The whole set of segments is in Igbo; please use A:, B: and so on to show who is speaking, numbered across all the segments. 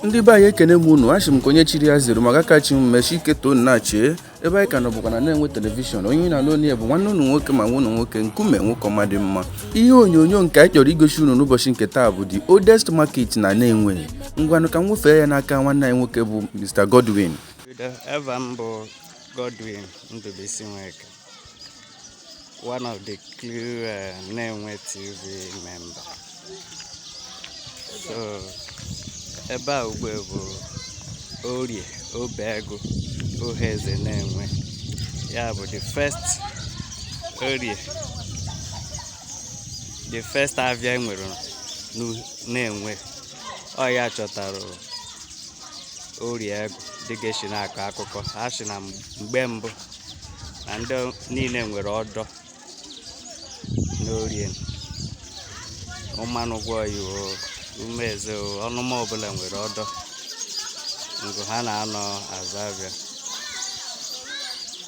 A: ndị be anyị ekene m unu achị m ka onye chiri ya zere maka kachi m mechi ike too nachie ebe anyị ka nọ bụkwa na Nenwe telivishọn onye na-anụ onye bụ nwanne unu nwoke ma nwa nwoke nkume nwoke ọma dị mma ihe onyonyo nke anyị chọrọ igosi unu n'ụbọchị nke taa bụ the oldest market na Nenwe ngwanụ ka m nwefee ya n'aka nwanne anyị nwoke bụ Mr Godwin
B: eva m bụ Godwin Ndụbụisi Nweke one of the crew uh, Nenwe TV member so ebe a ugbe bụ orie obeagụ Uhueze Nenwe ya bụ the first orie the first avia e nwere Nenwe ọ ya chọtara orie agụ dịga esi na-akọ akụkọ ha si na mgbe mbụ na ndị niile nwere ọdọ n'orie Ụmanụgwọyi o Umueze o ọnụma ọbụla nwere ọdọ ngụ ha na-anọ azụ avia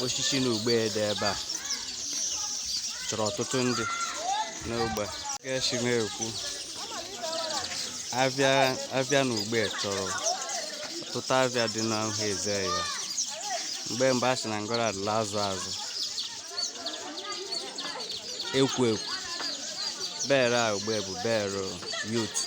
B: osisi na ugbe dị ebe a chọrọ ọtụtụ ndị n'ogbe ka e si na-ekwu avia na ugbe chọrọ ọtụtụ avia dị n'Uhueze ya mgbe mbụ a sị na ngọrọ adịla azụ azụ ekwu ekwu bere a ugbe bụ bere youth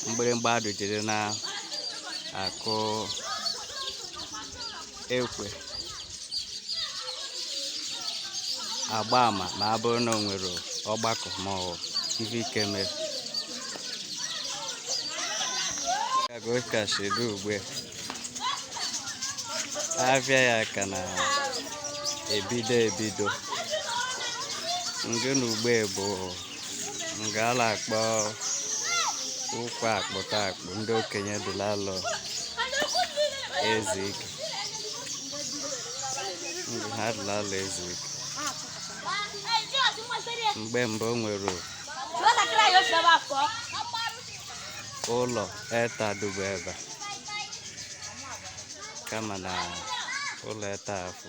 B: mgbịrịmgba adụjiri na-akụ ekwe agba ama ma ọ bụrụ na o nwere ọgbakọ ma ọ bụ ife ike mere ka o si dụ ugbe avia ya ka na-ebido ebido ngị na ugbe bụ nga a na-akpọ ụkwa akpụta akpụ ndị okenye dị la-alọ ezu ike ngụ ha dị la-alọ ezu ike mgbe mbụ o nwere ụlọ eta dụbụ ebe a, kama na ụlọ eta afụ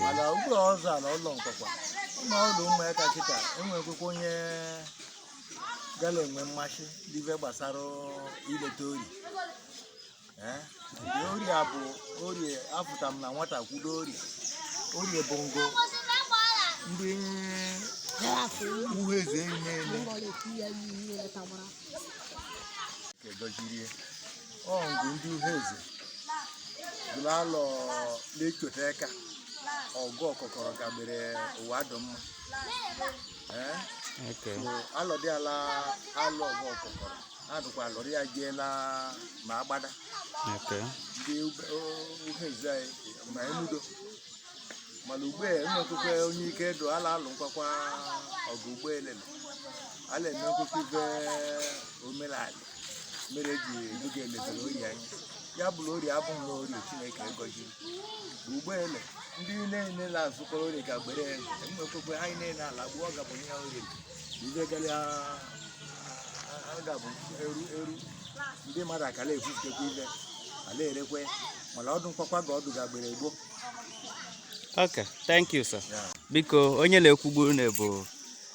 C: mana ugbu a ọzọ ala ụlọ nkwakwa ụmụ ọdụ ụmụaka kịta enwekwekwa onye gala enwe mmasị n'ife gbasara ileta orie nke orie a bụ orie afụta m na nwata kwudo ori orie bụ ngo ndị Uhueze enyi na-eme nke dozirie ọ bụ ndị uheze bụrụ alọ na-echota aka ọgụ ọkọkọrọ ka gbere ụwa dụ mma ee Okay. so alọdị ala alọ ọgụ ọkọkọrọ adụkwa alọrị ya jeela ma agbada Okay. ndị ube- o- uheze anyị ma emudo mana ugbe enwekwekwe onye ike dụ ala alụ nkwakwa ọgụ ụgbọelele ala emekwekwe ibe omenala mere eji ebuga elezere Orie anya ya bụrụ Orie abụghị na Orie Chineke gọziri ụgbọele ndị niile na-azụkọrọ Orie ka gbere enwekwekwe anyị niile ala gbuo ọ gabụ ihe Orie ibe gara a gabụ eru eru ndị mmadụ akala efutekwa ibe ala erekwe mana ọ dụ nkwakwa ga ọ dụ ga gbere gboo
B: Okay, thank you sir. Yeah. Biko onye na-ekwugbu unu bụ